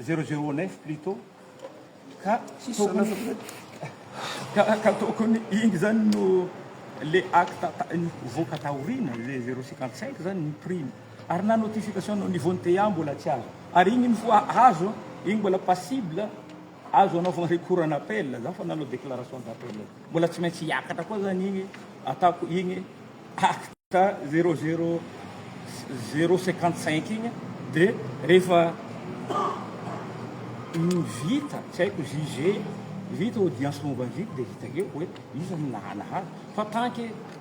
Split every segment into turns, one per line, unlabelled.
zéro zéro neuf plutot ka tokony ka ka tokony iny zany no le acte nivoaka taoriana le zéro cinquante cinq zany ny prix ary na notification nao niveau ny tea mbola tsy azo ary iny ny voa azo iny mbola passible Azo anaovana recours en appel za fa nanao déclaration d'appel mbola tsy maintsy hiakatra koa zany igny ataoko igny acte zero zero zero cinquante cinq igny de rehefa vita tsy haiko juge vita audience momba ny vide de vita eo hoe iza no nahalala fa tant que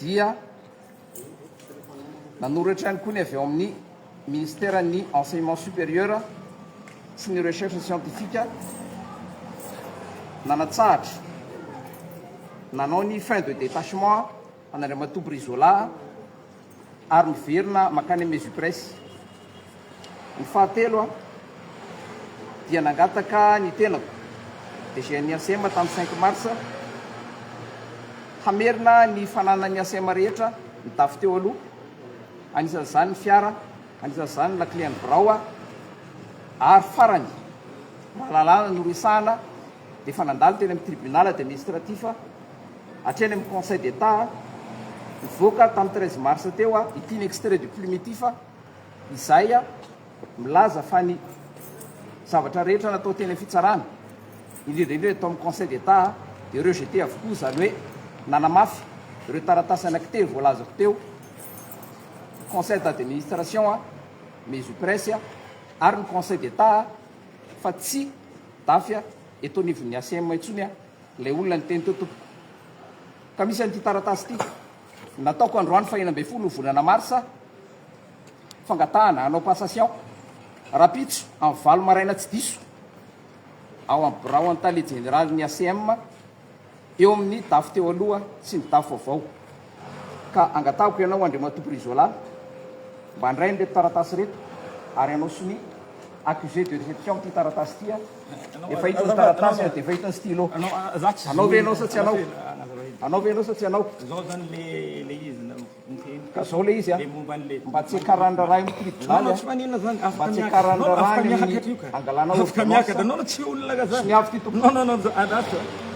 dia nanoratra ihany koa ny avy ao amin'ny Ministeran'ny Enseignement Supérieur sy ny Recherche Scientifique nanatsahatra nanao ny fin de détachement an'Andriamatoa Brizola, ary miverina mankany amin'ny Ezipresy. Ny fahatelo, aho dia nangataka ny tenako, DG an'ny ACM tamin'ny cinq mars, hamerina ny fananan'ny ACM rehetra nitafy teo aloha, anisan'izany ny fiara, anisan'izany ny lakile an'ny birao, ary farany, raha lalàna no resahana, dia efa nandalo teny amin'ny Tribunal administratif, Hatreny amin'ny Conseil d'Etat, nivoaka tamin'ny treize mars teo ity ny extrait du plumitif izay milaza fa ny zavatra rehetra natao teny amin'ny fitsarana, indrindra indrindra tao amin'ny Conseil d'Etat dia rejeté avokoa, izany hoe nanamafy ireo taratasy anankitelo voalazako teo, ny Conseil d'administration, Mesupress ary ny Conseil d'Etat fa tsy dafy eto anivon'ny ACM intsony. Ilay olona niteny teo tompoko ka misy an'ity taratasy ity nataoko androany faha enina ambin'ny folo volana marsa fangatahana hanao passation rahampitso amin'ny valo maraina tsy diso ao amin'ny birao an-tale jeneralin'ny ACM eo amin'ny dafy teo aloha sy ny dafy vaovao Ka angatahiko ianao Andriamatoa Brizola mba andray an'ireto taratasy ireto ary anao sonia accusé de réception ity taratasy ity a! Efa hita ny taratasy ary dia efa hita ny stylo. Anao ve ianao sa tsy anao? Anao ve ianao sa tsy anao?
Ka izao
ilay izy a! Mba tsiakarany raharaha eo amin'ny tribonaly a! Mba
tsiakarany raharaha
any amin'ny hangalana ordonnance
a! Sonia avy ity tompoko.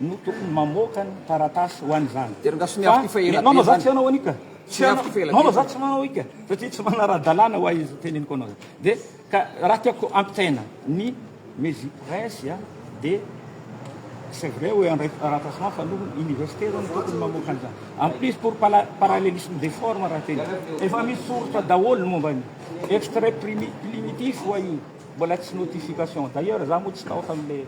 no tokony mamoaka ny taratasy ho an'izany. Ianao moa izany tsy hanao an'io ka. Tsy hanao. Ianao izany tsy manao io ka. Satria tsy manara-dalàna ho ahy izay teneniko anao izay. Dia ka raha tiako ampitaina ny Mezi Presse dia c'est vrai hoe handray taratasy maha fa no université zany tokony mamoaka an'izany. En plus pour parallélisme des formes raha tena efa misy soritra daholo ny momba ny extrait primitif wa io mbola tsy notification. D'ailleurs za moa tsy tao tamin'ilay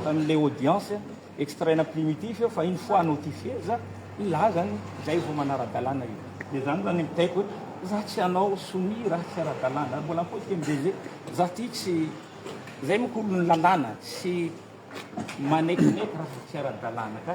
an'ilay audience extraina primitif eo fa une fois notifier za hilaza ny zay vao manara-dalàna io de zany zany mitaiko hoe za tsy hanao soumis raha tsy ara-dalàna mbola mipotika ny DG za ty tsy zay moko ny lalàna tsy manekineky raha tsy ara-dalàna ka.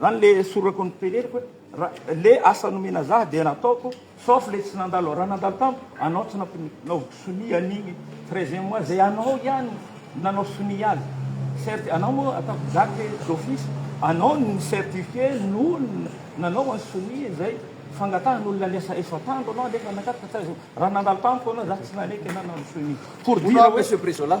Zany le sorako ny teneniko ra le asa nomena zah dia nataoko sauf le tsy nandalo ra nandalo tamiko anao tsy nampinaoviko sonia an'igny treizième mois zay anao ihany nanao sonia azy certi anao moa ataoko date d'office anao no ni certifier nohony nanao an'i sonia zay fangatahan'olona ny asa efapandro anao nefa nakaty ka tsy azo ra nandalo tamiko anao zah tsy naneky na nanao sonia pour dire hoe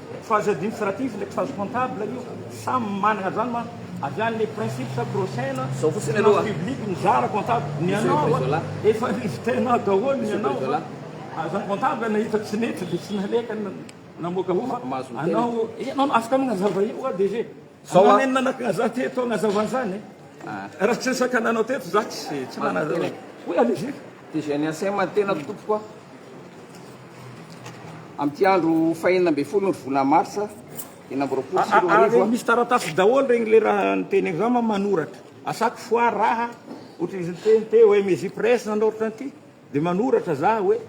Phase administrative ndraiky phase comptable io samy managna zany ma avy any le principe sa prochain finance
publique mizara
comptable ny anao a efa invitenao daholo ny anao fa azany comptable nahita tsy nety de tsy naleka namoaka ho fa anao e anao afaka magnazava io DG. Zao a. Nenina nakagna za teto agnazava zany e. Raha tsy resaka nanao teto za tsy tsy nanazava. Oui allez-y. DGNSM,
ny tenako tompoko a. Amin'ity andro fahenina ambin'ny folo ny volana marsa enina amby roapolo sy roa arivo a. Misy taratasy daholo
regny le raha niteneako za ma manoratra. Asako foire raha ohatry izy niteny te hoe mes ypresses na ohatran'ity. Dia manoratra za hoe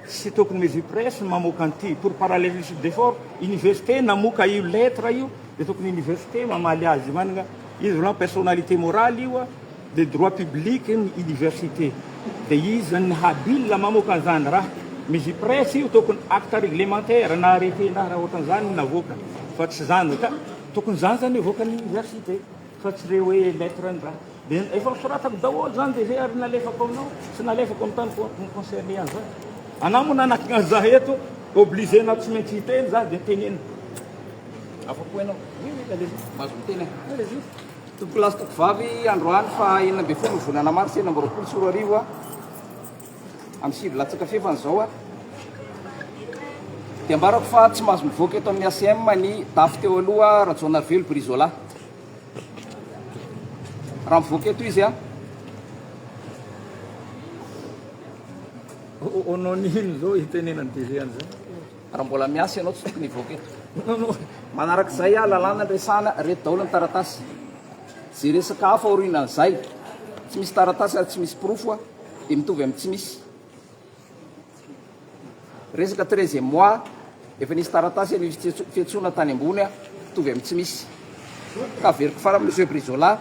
tsy tokony Mezu Press no mamoaka an'ity, pour parallelisme d'effort, université namoka io lettre io dia tokony université mamaly azy manana izy aloha personnalité morale io dia droit public ny université dia iza ny habile mamoaka an'izany raha Mezu Press io tokony acte réglementaire na arrêté na raha ohatran'izany no navoaka fa tsy izany ka tokony izany izany hivoaka ny université. Fa tsy re hoe lettre ny raha. Dia efa nosoratako daholo izany dia izay ary nalefako aminao sy nalefako amin'ny tany ko ny concerné an'izany. Anà moa nanakina an'izah eto, obligé-nao tsy maintsy hiteny zah dia teneno.
Afa-po ianao. Oui, oui, allez-y. Mahazo miteny aho. Allez-y. Tompokolahy sy tompovavy, androany faha enina ambin'ny folo ny volana marsa enina amby roapolo sy roa arivo, Amin'ny sivy latsaka fefany izao dia ambarako fa tsy mahazo mivoaka eto amin'ny ACM ny dafy teo aloha Rajaonarivelo Brizola. Raha mivoaka eto izy a.
Onon ino izao itenenan'ny DG an'izao? Raha mbola miasa
ianao tsy tokony hivoaka eto. Manaraka izay a lalàna ny resahana, reto daholo ny taratasy. Izay resaka hafa aorianan'izay. Tsy misy taratasy ary tsy misy porofo a. dia mitovy amin'ny tsy misy. Resaka treizième mois, efa nisy taratasy anie misy fiantsoana tany ambony a, mitovy amin'ny tsy misy. Ka averiko fara amin'ny Monsieur Brizola,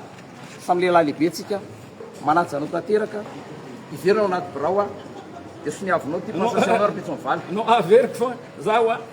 samy lehilahy lehibe tsika, manaja anao tanteraka, iverina ao anaty birao a, dia soniavinao ity passation anao ry Pitso mivalo. Non, averiko fa
zaho a.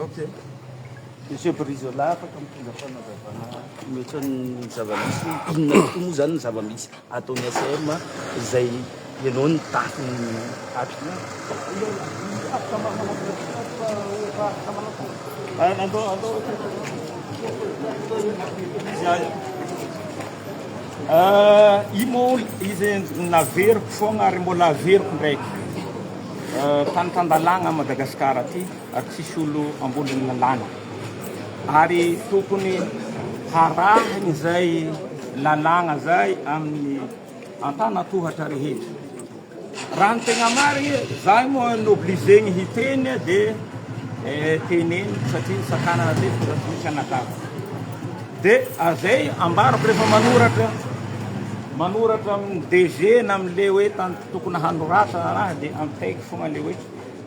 Ok.
Monsieur Brizola, afaka mitondra fanazavana mihoatra ny zava-misy hoe inona tokoa moa izany ny zava-misy ataon'ny ACM izay ianao no tahiny atrika?
Io moa izy naveriko foagna ary mbola averiko ndraiky. Tany tan-dalàna Madagascar aty ary tsisy olo ambony ny lalàna ary tokony harahina izay lalàna zay amin'ny antanatohatra rehetra. Raha ny tegna marigny, zahay moa obligé-gny hiteny dia eh, teneno satria ny sakana matetika zany tsy anadava. Dia zay ambarako rehefa manoratra manoratra amin'ny DG na amin'le hoe tantara. Tokony hanoratra raraha dia ampitaiko fogna le hoe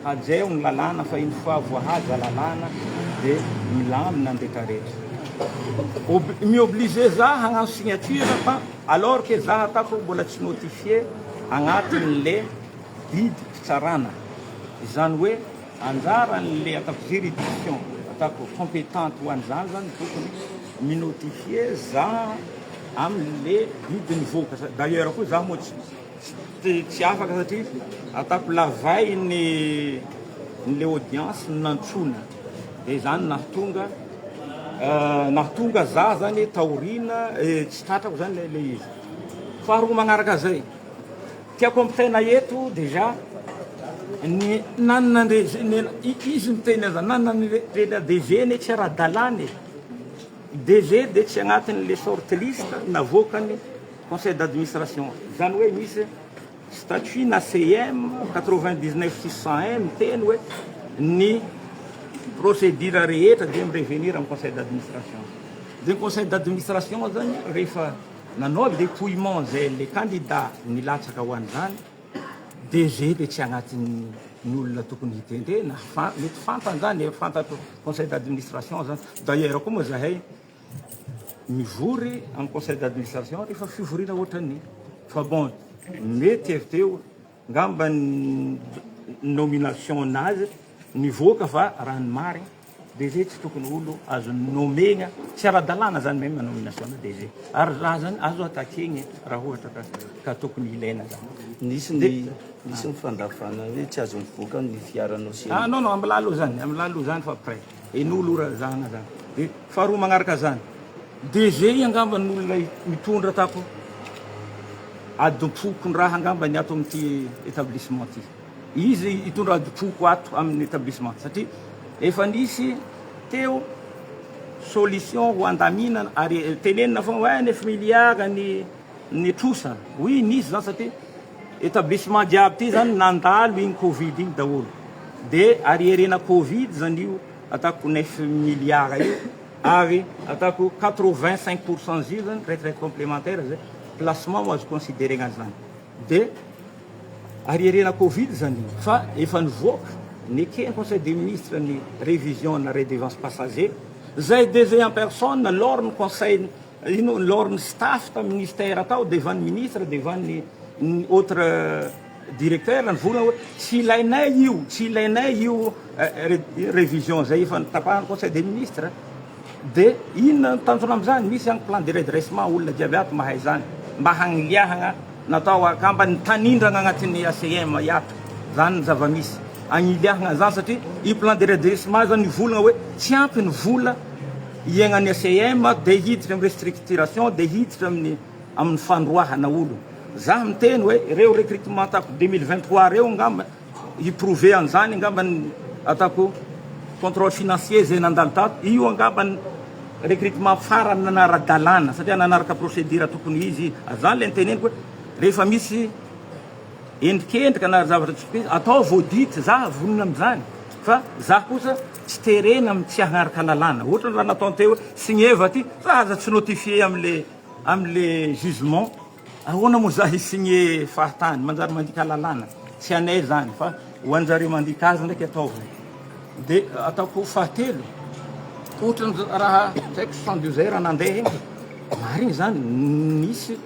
hajeo ny lalàna fa une fois voahaja lalàna dia milamina ny rehtra rehtra. Ob, mi-obliger za hagnano signature fa alors que za ataoko mbola tsy notifier agnatin le didy fitsarana. Izany hoe anjaran le ataoko juridiction ataoko competente ho an'izany zany tokony mi-notifier za amin le didy nivoaka. D'ailleurs koa za moa tsy. Tsy afaka satria ataoko lavay ny le audience no nantsoina de zany nahatonga nahatonga za zany taoriana tsy tratrako zany le le izy. Faharoa magnaraka zay tiako ampitaina eto dejà ny nanana andrejena izy miteny aza nanana andrejena DG ne tsy ara-dalàna e. DG de tsy agnatin'le short list navoakany. Conseil d'administration, izany hoe misy statut na CEM quatre-vingt-dix-neuf six cent un miteny hoe ny procédure rehetra dia mi-revenir amin'ny conseil d'administration. Dia ny conseil d'administration izany rehefa nanao dépouillement izay le candidat nilatsaka ho an'izany, DG dia tsy agnatin'ny olona tokony hitendrena fa mety fantany izany, efa fantatry conseil d'administration izany. D'ailleurs koa moa izahay, mivory en conseil d'administration rehefa fivoriana ohatran'ny fa bon mety avy teo ngamba ny nomination nazy nivoaka fa raha ny marina DG tsy tokony olo azo nommer-na tsy ara-dalàna zany même nomination na DG ary raha zany azo attaquer-na raha ohatra ka ka tokony ilaina zany nisy ny
nisy ny fandavana hoe tsy azo mivoaka ny fiaranao sy ah non non am'la aloha zany
am'la aloha zany fa après Eno aloha ra zana zany de faharoa magnaraka zany DG angamba no olona mitondra tato adim-pokondraha angamba ny ato amin'ity etablissement ty. Izy hitondra adim-poko ato amin'ny etablissement satria efa nisy teo solution ho andaminana ary tenenina foana hoe nefa miliara ny ny trosa oui nisy zany satria etablissement jiaby ty zany nandalo iny covid iny daholo de arierena covid zany io ataoko neuf milliards io ary ataoko quatre vingt cinq pour cent zio zany retraite complementaire zay placement no azo consideregna zany de arierena covid zany io fa efa nivoaka nekeny conseil des ministres ny revision na redevance passager zay DG en personne lors ny conseil Ino lors ny staff tam ministère tao devant ny ministre devant ny ny autre directeur ny vola hoe tsy ilainay io tsy ilainay io revision zay efa nitapahan'ny conseil des ministres de inona ny tanjona amzany misy any plan de redressement olona jiaby ato mahay zany mba hagniliahagna Natao angamba ny tanindrana agnatin'ny ACM hiato zany ny zava-misy agniliahagna zany satria i plan de redressement zany mivolagna hoe tsy ampy ny vola iaignan'ny ACM de hiditra amin'ny restructuration de hiditra amin'ny amin'ny fandroahana olo za miteny hoe reo recrutement tato deux mille vingt trois reo angamba Hi prouver an'izany angamba ny ataoko contrôle financier izay nandalo tato. Io angamba ny recrutement farany nanara-dalàna satria nanaraka procédure tokony ho izy. Ary izany ilay niteneniko hoe rehefa misy endrikendrika na zavatra tsy fiteny ataovy audit, za vonona amin'izany fa za kosa tsy terena amin'ny tsy haharaka lalàna. Ohatrany raha nataony teo hoe signeva ity fa aza tsy notifier amin'ilay amin'ilay jugement. Ahoana moa zany signe fahatany manjary mandika lalàna tsy anay zany fa ho anjareo mandika azy ndraiky ataovy de ataoko fahatelo otrany raha tsy aiko soixante douze heures nandeha iny de marigny zany nisy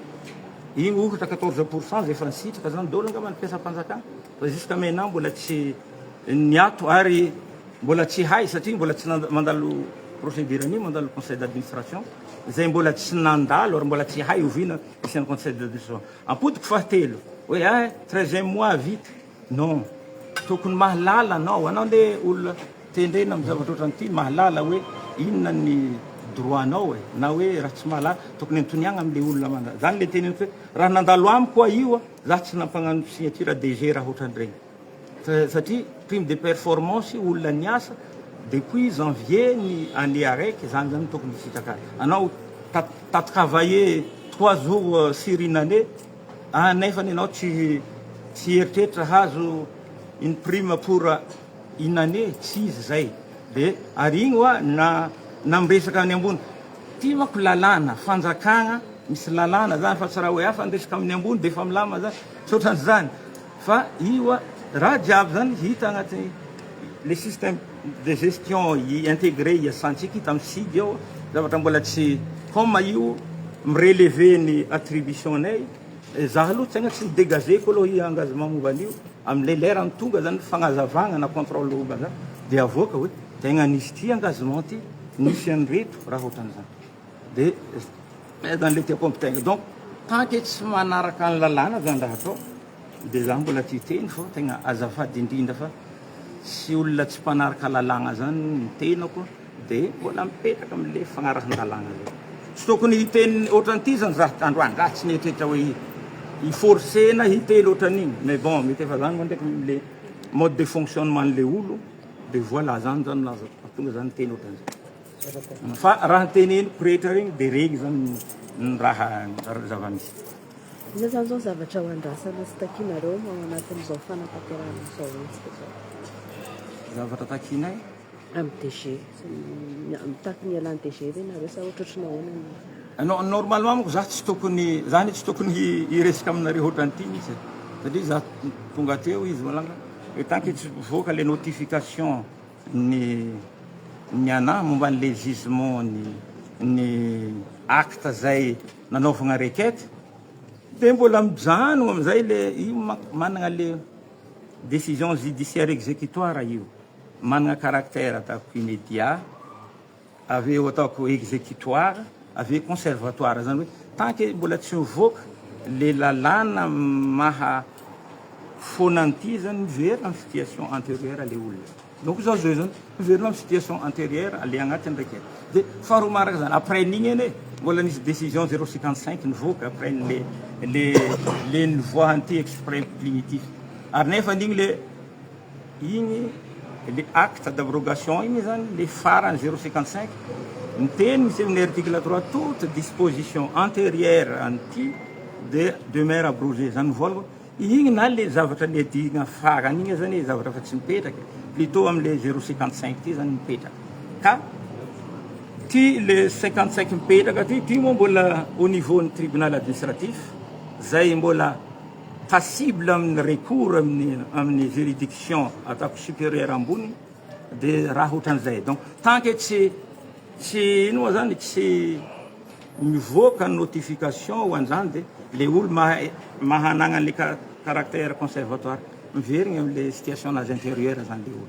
iny ohatra quatorze pourcent zay efa nisitraka zany daholo angamba ny mpiasam-panjakana. Fa jusqu'à maintenant mbola tsy niato ary mbola tsy hay satria mbola tsy mandalo procédure an'io, mandalo conseil d'administration izay mbola tsy nandalo ary mbola tsy hay oviana isian'ny conseil d'administration. Ampodiko fahatelo hoe ah treizième mois vita, non, tokony mahalala anao, anao anie olona tendrena amin'ny zavatra ohatran'ny ity, mahalala hoe inona ny droit anao e, na hoe raha tsy mahalala tokony antoniagna amin'ilay olona mandalo, izany ilay teneniko hoe raha nandalo amiko aho io, Za tsy nampagnano signature DG raha otran'ireny fa satria prime de performance olona niasa depuis janvier ny année araiky zany zany tokony hisitraka anao ta ta travailler trois jours sur une année a nefany enao tsy tsy eritreritra hahazo une prime pour Inona anie tsy izy zay de ary igny oa na na miresaka any ambony ty mako lalàna fanjakagna misy lalàna zany fa tsy raha oe afa niresaka aminy ambony de efa milamina zany tsy otrany zany fa io oa raha jiaby zany hita agnaty le système de gestion integre hiasantsika io tamy sig eo zavatra mbola tsy comme io mi-relever ny attribution nay zah aloha tegna tsy mi-degager ko aloha i engagement momba an'io. Amin'ilay lerany tonga zany fagnazavagna na contrôle room zany de avoaka hoe tegna nisy ty engagement ty, nisy an'ireto raha ohatran'izany de zay zany le tiako ampitegna donc tant que tsy manaraka ny lalàna zany raha atao de za mbola ty hiteny fô tegna azafady indrindra fa tsy olona tsy mpanaraka lalàgna zany ny tenako. Dia mbola mipetraka amin'ilay fagnarahan-dalàna ilay. Tsy tokony hiteny ohatran'ity izany za androany, za tsy nieritreritra hoe hi-forcer-na hiteny ohatran'iny, mais bon, mety efa zany moa ndraiky ilay mode de fonctionnement-n'ilay olo, dia voilà zany zany nahazo tonga za niteny ohatran'izany. Fa raha ny teneniko rehetra regny dia regny zany ny raha, ny zava-misy. Inona
izany izao zavatra ho andrasana sy takianareo ao anatin'izao fanatanterahana izao hetsika izao?
Zavatra takianay? Amin'ny DG.
Mitaky ny ialan'ny DG ve nareo sa ohatrotry ny ahoana ny. Non, normalement manko
za tsy tokony, za anie tsy tokony hiresaka aminareo hoatran'ity mihitsy e. Satria za tonga teo izy malala, le tant que tsy mivoaka le notification ny ny anah momba an'le jugement ny ny acte zay nanaovagna requête, de mbola mijanogna am'zay le io manko managna le décision judiciaire exécutoire io. Manana caractère ataoko immédiat, avy eo ataoko exécutoire, avy eo conservatoire, izany hoe tant que mbola tsy mivoaka ilay lalàna maha foana an'ity izy izany miverina amin'ny situation antérieure ilay olona. Donc izao zao izao miverina amin'ny situation antérieure ilay agnatiny raika e. Dia faharoa manaraka izany après an'igny anie mbola nisy décision zéro cinquante cinq nivoaka après an'ilay ilay ilay nivoahan'ity exprès primitif ary nefa an'igny ilay Iny le acte d'abrogation iny zany le farany zero cinquante cinq miteny misy amin'ny article trois toute disposition anterieur an'ity de demeure abrogée zany ny voalako iny na le zavatra niadihina farany iny aza anie zavatra efa tsy mipetraka plutot amle zero cinquante cinq ty zany mipetraka ka ty le cinquante cinq mipetraka ty ty moa mbola au niveau ny tribunal administratif zay mbola passible amin'ny recours amin'ny amin'ny juridiction ataoko superieur ambony dia raha ohatran'izay donc tant que tsy tsy ino moa zany tsy mivoaka notification ho an'izany dia le olo mahay mahanagna le caractère conservatoire miverigny am'le situation nazy antérieure zany le olo